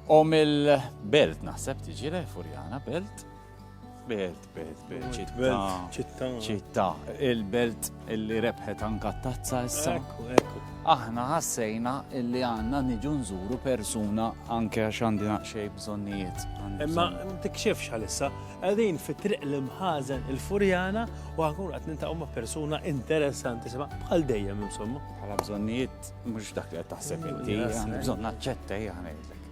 U mill-belt naħseb tiġi le Furjana belt. Belt, belt, belt, ċitta. ċitta. ċitta. Il-belt illi rebħet anka tazza issa. Ekku, ekku. Aħna ħassejna illi għanna niġu nżuru persuna anke għax għandi naqxej bżonnijiet. Imma tikxifx għalissa, għadin fi triq l-imħazen il-furjana u għakun għat nintaqom ma' persuna interessanti, bħal dejjem insomma. Bħala bżonnijiet Mhux dak li qed taħseb inti, bżonn naċċetta hija ngħidlek.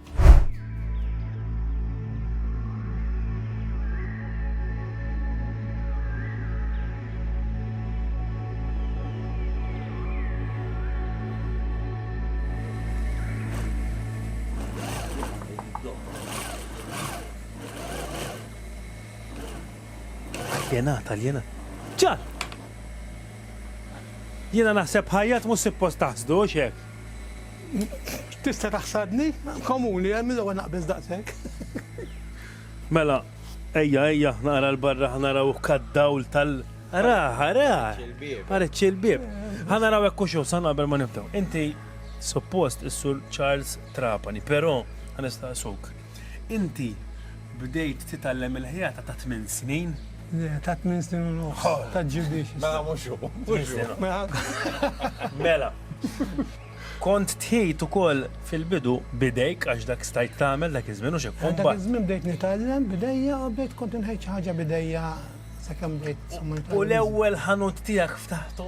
Jena, tal-jena. ċar! Jiena naħseb ħajjat mhux sippost taħsdu, hux hekk? Tista' taħsadni? Komuni, eh? Mill-ewwel naqbeż daqshekk. Mela, ejja, ejja, naqra 'l barra ħa naraw hekk għad-dawl tal-. Arah, arah! Pareċċi il-bieb. Ħa naraw hekk hux hu, sa naqbel ma nibdew. Inti suppost is-Sur Charles Trapani, però ħa nistaqsuk. Inti bdejt titgħallem il-ħjata ta' tmien snin? Le, ta' tmien snin u nofs, ta' ġibiex. Mela mhux hu, mhux hu. Mela, kont tħit ukoll fil-bidu b'idejk għax dak stajt tagħmel dak iż-żmien u x'hekk, u mbagħad. Dak iż-żmien bdejt nitgħallem b'idejja u bdejt kont inħejj xi ħaġa b'idejja sakemm bdejt. U l-ewwel ħanut tiegħek ftaħtu?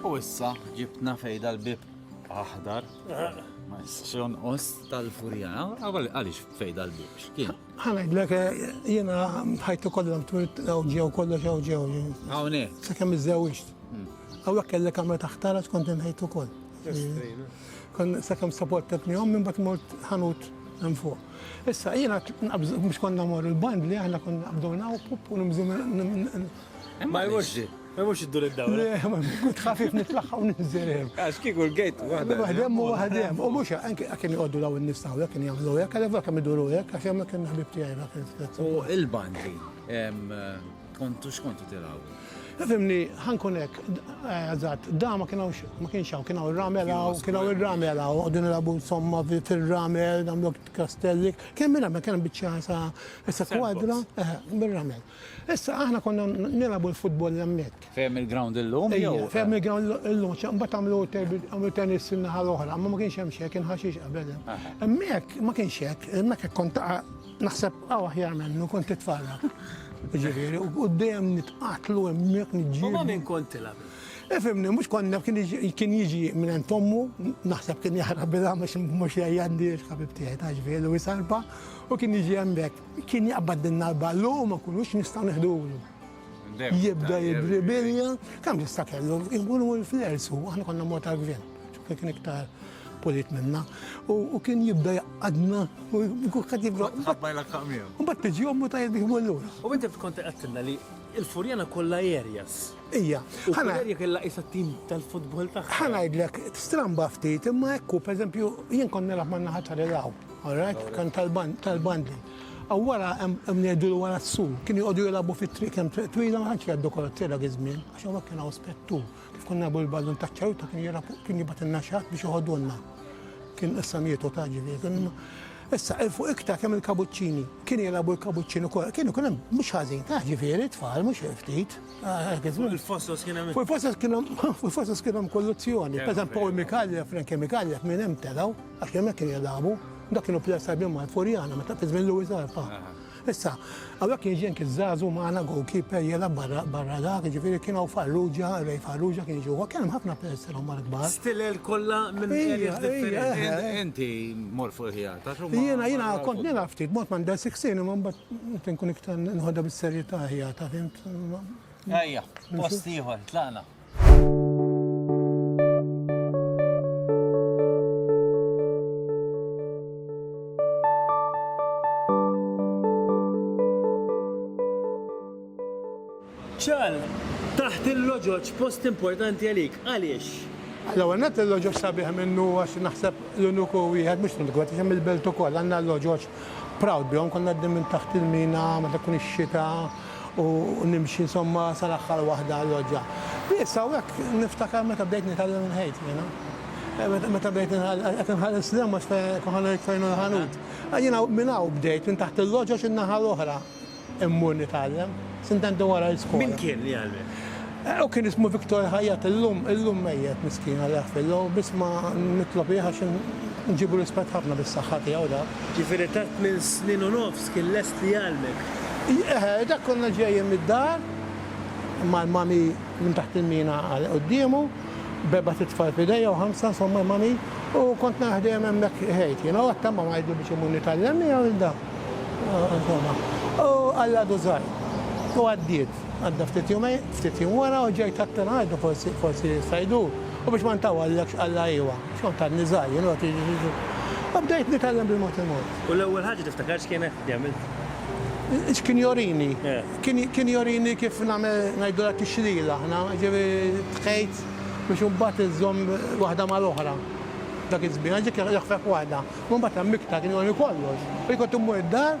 U issa ġibtna fej dal-bib aħdar. Ma jistax jonqos tal-furjana. Għaliex fej dal-bib? X'kien? Ħa ngħidlek jiena ħajtu kollha twirt hawn ġew kollox hawn ġew. Hawn eh. Sakemm iżżewġt. Hmm. Hawnhekk kellek kamra taħtara skont inħejt ukoll. Kon sakemm saportetni hom minn bat mort ħanut hemm fuq. Issa jiena mhux konna mor il-band li aħna konna qabduna u pup u nimżu Ma jmurx Ma mhux iddur id-dawra. Kont ħafif nitlaħħa u ninżel hemm. Għax kieku l-gate waħda. Waħdem u waħdem. U mhux anke kien jgħoddu daw in-nies taw kien jagħmlu hekk, għalhekk dak kemm iduru hekk għax hemm kien ħbib tiegħi dak il-fett. U il-bandi kontu x'kontu tilgħabu? Fimni, ħankun hekk, eżatt, da ma kien hawnx, ma kienx hawn, kien hawn ir-ramel hawn, kien hawn ir-ramel hawn, qogħdu nilagħbu insomma fir-ramel, nagħmlu kastelli. Kemm ir-ramel kien biċċa sa kwadra, bir-ramel. Issa aħna konna nilagħbu l-futbol hemmhekk. Ferm il-ground illum jew? Ejja, ferm il-ground illum, xa mbagħad għamlu terbi- għamlu tennis fin-naħa l-oħra, imma ma kienx hemm xejn, kien ħaxix qabel hemm. Aha. Hemmhekk ma kienx hekk, hemmhekk hekk kont taqa' naħseb hawn aħjar minnu kont titfarrak. Jiġifieri, u u dejjem nitqatlu hemmhekk U ma' niġġieldu. min kont tilgħab? Ifhimni, mhux konna kien jiġi- kien jiġi minn għand ommu, naħseb kien jaħrab bilha mhux mhux jgħajjandi l-ħabib tiegħi ta' ġifieri u jsalpa u kien jiġi hemmhekk. Kien jaqbadilna l-ballu u ma nkunux nistgħu neħdulu. Jibda jidribilja, kemm jista' kellu, jkun hu l-flers u aħna konna mod tal-gvern, x'kien kien iktar pulit minna. U kien jibda jaqadna u kukat jibda. Ħabbajlek taqmija. U bat tiġi ommu ta' jibdi l-lura. U inti kont għattilna li il-furjana kollha areas. Ija. Ħana jerja kella isa tim tal-futbol tagħha. Ħana jidlek stramba ftit imma ekku, per eżempju, jien kont nilgħab man-naħa ta' relaw. All right, kan tal-bandi. Aw wara hemm ngħidu li wara s-su. Kienu joqogħdu jilagħbu fit-triq hemm triq twila ma tantx jgħaddu karozzi dak iż-żmien għax hawnhekk kien hawn spettur. Kif konna nagħmlu l-ballun taċ-ċaruta kien jilgħab fuq kien jibgħatilna xi ħadd biex joħodulna. Kien issa mietu ta' ġifieri kien imma. Issa il fuq iktar kemm il-kabuċċini. Kienu jilagħbu l-kabuċċini wkoll. Kienu kien hemm mhux ħażin ta' ġifieri tfal mhux ftit. Fuq il-fosos kien hemm. Fuq il-fosos kien hemm fuq il-fosos kien hemm kolluzzjoni. Pereżempju Paul Micallef, Frankie Micallef minn hemm telgħu. Għax hemmhekk kienu jilagħbu. Dak kienu players tajbin mal Furjana meta fi żmien Louis Arpa. Issa, hawnhekk kien ġenk iż-żagħżugħ magħna goalkeeper jilgħab barra barra dak, jiġifieri kien hawn Farrugia, Ray Farrugia kien jiġi huwa, kien hemm ħafna players li huma l-kbar. Stilel kollha minn areas differenti. Inti mor fuq il-ħjar ta' xogħol. Jiena jiena kont nilgħab ftit mort m'għandha 16 imma mbagħad inkun iktar nħodha bis-serjetà ħjar ta' fimt. Ejja, post ieħor, tlaqna. Ċal, taħt il-loġoġ post importanti għalik, għaliex? L-ewwel net il-loġoġ sabiħ minnu għax naħseb l-uniku wieħed mhux tkun tkun hemm il-belt ukoll għandna l-loġoġ proud bihom konna għaddin minn taħt il-mina meta tkun ix-xita u nimxi insomma sal-aħħar waħda l-loggia. Issa hawnhekk niftakar meta bdejt nitgħallem inħejt jiena. Meta bdejt qed inħares l-hemm għax kont ħa ngħid fejn hu l-ħanut. Jiena minn hawn bdejt, minn taħt il-loggia xi n-naħa l-oħra immur nitgħallem, sentejn wara l-iskola. Min kien li għallmek? Hu kien ismu Victor Hayat, illum, illum mejjet miskin Alla jaħfirlu, biss ma nitlob jih għax inġibu rispett ħafna bis-saħħa tiegħu dak. Ġifieri ta' tmien snin u nofs kien lest li jgħallmek? Eħe, dak konna ġejjin mid-dar mal-mami minn taħt il-mina għal quddiemu, b'erbat itfal f'idejja u ħamsa insomma l-mami, u kont naraħ dejjem hemmhekk iħejt jiena u għadtama ma ngħidlu biex imur nitgħallem miegħu lil dan. Insomma. U Alla dużani. U għaddiet. Għadda ftit jumejn, ftit jiem wara u ġejt aktar ħaġa forsi, forsi jista' jdur. U biex ma ntawallekx Alla iwa, għax kont għadni żgħir jien u għad jiġi xi jġri. U bdejt nitgħallem bil-mod il-mod. U l-ewwel ħaġa tiftakar x'kienet li għamilt? X'kien jorini? Kien, kien jorini kif nagħmel, ngħidulha tixlil aħna, jiġifieri tħejt biex imbagħad iżżomm waħda mal-oħra. Dak iż-żmien, għax dik jaħfef waħda. U mbagħad għammiktha, kien jorini kollox. U jien kont immur id-dar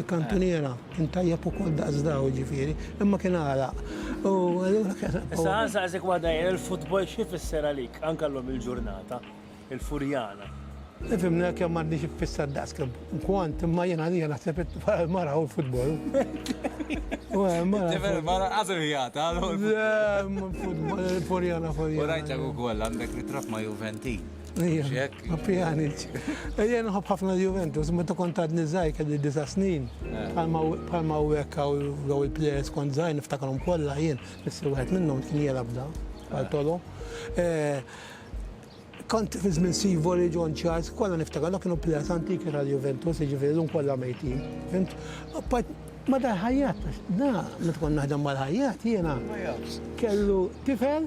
Il-kantuniera kien tajjeb ukoll daqs daw jiġifieri, imma kien għalaq. U allura kien. Issa ħa nsaqsik waħda jien, il-futbol xi jfisser għalik anke llum il-ġurnata? Il-Furjana. Ifhimni kemm għandi xi jfisser daqs kemm kont, imma jien għalija naħseb il-mara hu l-futbol. Tifel il-mara qas irjata għal. Le, il-futbol, il-Furjana, Furjana. U rajtek ukoll għandek ritratt ma' Juventin. Ejja nħobb ħafna Juventus, meta kont għadni żgħir kelli disa' snin, bħalma u hekk daw il-plejers kont żgħir niftakarhom kollha jien, nissi wieħed minnhom kien jelab da, għal Tolo. Kont fi żmien Sivori, John Charles, kollha niftakar dawk kienu plejers antiki ta' Juventus, jiġifieri llum kollha mejtin. Fimt? Apart ma dal-Ħajjat, da meta kont naħdem mal-Ħajjat jiena kellu tifel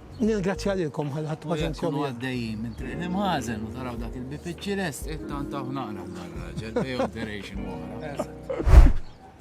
Nirgrazzja lilkom għal ħadt paċenzjom. Jekk kunu għaddejjin minn triq l-imħażen u taraw dak il-bipiċċi lest, ittantawh naqra b'dan raġel bejn operation oħra.